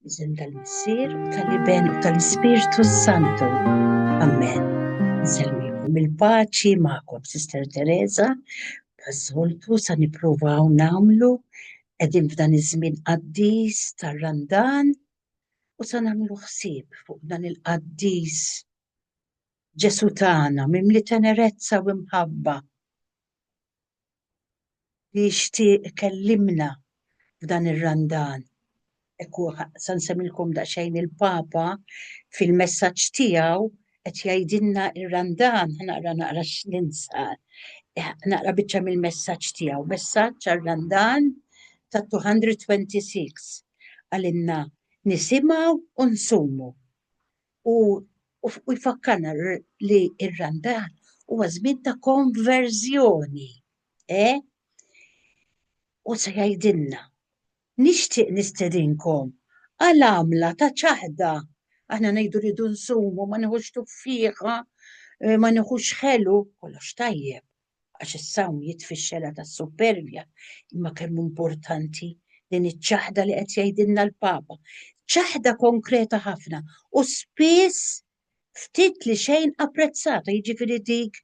Isem tal-Missier u tal-Iben u tal-Ispirtu Santu. Amen. Nselmikom il-paċi magħkom, Sister Teresa, taż-żoltu sa nippruvaw nagħmlu qegħdin f'dan iż-żmien qaddis tar-Randan u sa nagħmlu ħsieb fuq dan il-qaddis Ġesu tagħna mimli tenerezza u mħabba. li jixtieq ikellimna f'dan ir-Randan. Hekk hu sa nsemmilkom daqsxejn il-Papa fil-messaġġ tiegħu qed jgħidilna r-Randan, naqra naqra x'ninsar, naqra biċċa mill-messaġġ tiegħu, messaġġ għar-Randan ta' 226 għalinna nisimgħu u nsumu. u jfakkarna li r-Randan huwa żmien ta' konverżjoni. E? U se jgħidilna, nixtieq nistedinkom għal għamla ta' ċaħda. Aħna ngħidu rridu nsumu, ma nieħux tuffieħa, eh, ma nieħux ħelu, kollox tajjeb. għax is-sawm jitfixxela tas-suppervja, imma kemm hu importanti din iċ-ċaħda li qed jgħidilna l-Papa. Ċaħda konkreta ħafna u spiss ftit li xejn apprezzata, jiġifieri dik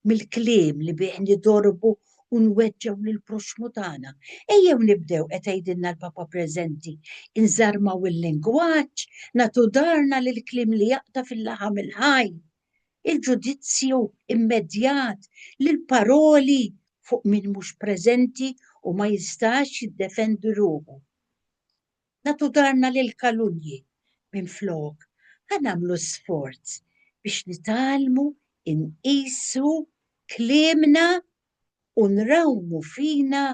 mill-kliem li bih nidorbu u nweġġew lil proxmu tagħna. Ejjew nibdew qed tgħidilna l-Papa preżenti, inżarmaw il-lingwaġġ, natu darna lil kliem li jaqta' fil-laħam il-ħaj. il-ġudizzju immedjat li l-paroli fuq min mhux preżenti u ma jistax jiddefendi ruħu. Nagħtu darna lil kalunji minflok ħa nagħmlu sforz biex nitgħallmu nqisu kliemna u nrawmu fina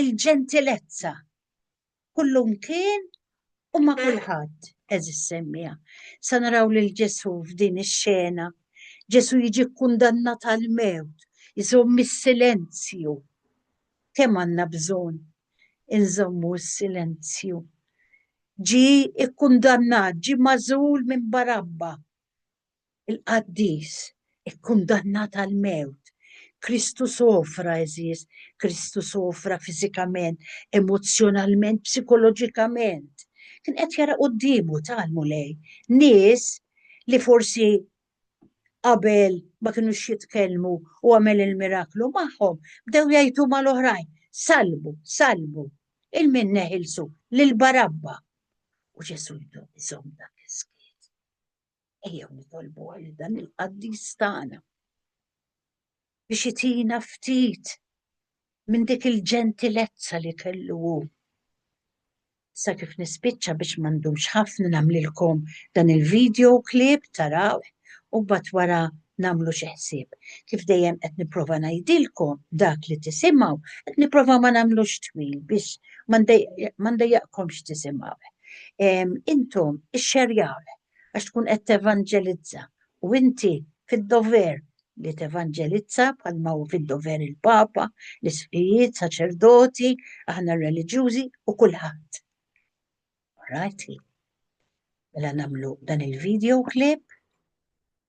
l-ġentilezza kullumkien u ma' kulħadd, eżis semmija. Sa naraw lil Ġesù f'din ix-xena. Ġesù jiġi kkundannat għal mewt, iżomm is-silenzju. Kemm għandna bżonn inżommu s-silenzju. Ġi kkundannat, ġi magħżul minn Barabba. il-qaddis, ikkundannat għall-mewt. Kristu sofra, għeżież, Kristu sofra fiżikament, emozzjonalment, psikoloġikament. Kien qed jara quddiemu tal-Mulej nies li forsi qabel ma kinux jitkellmu u għamel il-miraklu magħhom, bdew jgħidu mal-oħrajn, salbu, salbu, il-min neħilsu, lil Barabba. U Ġesu jżomm dak is-skiet. Ejjew nitolbu għal dan il-qaddis tagħna biex itina ftit minn dik il-ġentilezza li kellu hu. Sa kif nispiċċa biex m'għandux ħafna nagħmlilkom dan il-video clip taraw u bat wara nagħmlu xi ħsieb. Kif dejjem qed nipprova ngħidilkom dak li tisimgħu, qed nipprova ma nagħmlux twil biex ma ndejjaqkomx tisimgħu. Intom ixxerjaw għax tkun qed tevanġelizza u inti fid-dover li tevanġelizza bħalma hu fid-dover il-Papa, l-isqijiet, saċerdoti, aħna reliġjużi u kulħadd. Rajti? Mela nagħmlu dan il-video clip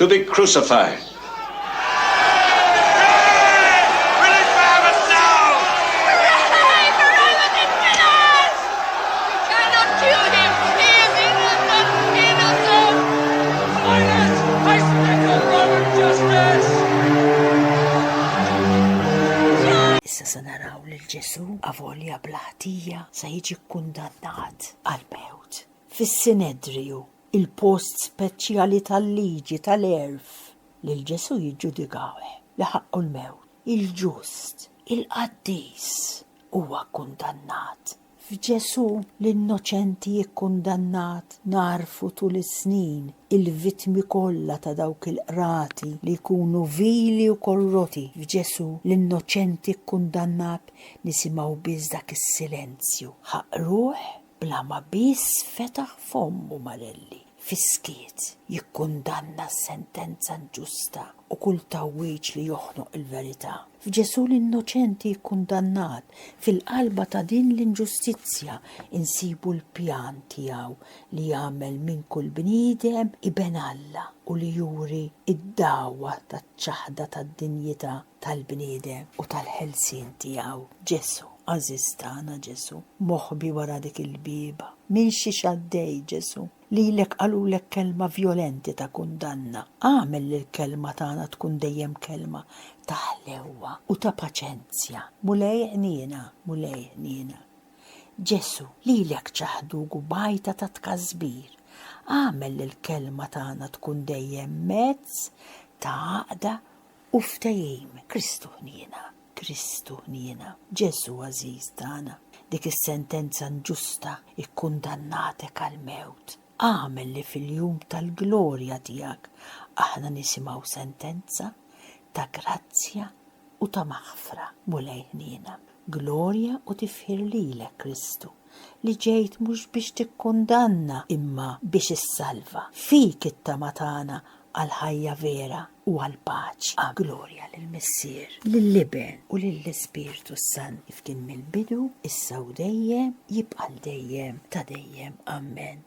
to be crucified. Issa se naraw lil Ġesù avolja bla ħtija se jiġi kkundannat għall-mewt. fis-Sinedriju, il-post speċjali tal-liġi tal-għerf, lil Ġesù jiġġudikah li ħaqqu l-mewt, il-ġust, il-qaddis, huwa kkundannat. F'Ġesù l-innoċenti jikkundannat nagħrfu tul is-snin il-vittmi kollha ta' dawk il-qrati li jkunu vili u korroti, f'Ġesù l-innoċenti kkundannat nisimgħu biss dak is-silenzju, ħaqruh bla ma biss fetaħ fommu Marelli fis-skiet jikkundanna s-sentenza inġusta u kull tgħawwiġ li joħnoq il-verità f'Ġesù l-innoċenti kkundannat. Fil-qalba ta' din l-inġustizzja nsibu l-pjan tiegħu li jagħmel minn kull bniedem iben Alla u li juri d-dagħwa taċ-ċaħda tad-dinjità. tal-bniedem u tal-ħelsien tiegħu. Ġesù, għażiż tagħna Ġesù, moħbi wara dik il-bieba. Minn xiex għaddej Ġesù? Lilek qalulek kelma vjolenti ta' kundanna. Agħmel li l-kelma tagħna tkun dejjem kelma ta' ħlewwa u ta' paċenzja. Mulej ħniena, Mulej ħniena. Ġesù, lilek ċaħduk u bgħajta ta' tkasbir. Agħmel li l-kelma tagħna tkun dejjem mezz ta' għaqda U ftehim, Kristu ħniena, Kristu ħniena, Ġesù għażiż tagħna, dik is-sentenza nġusta ikkundannatek għall-mewt. Agħmel li fil-jum tal-glorja tiegħek aħna nisimgħu sentenza ta' grazzja u ta' maħfra, Mulej ħniena. Glorja u tifħir lilek, Kristu, li ġejt mhux biex tikkundanna imma biex issalva. Fik it-tama tagħna għall-ħajja vera. u għall-paċi, a glorja lill-Missier, lill-Iben u lill-Ispirtu s-Sant, kif kien mill-bidu, issa u dejjem, jibqa' għal dejjem ta' dejjem. Amen.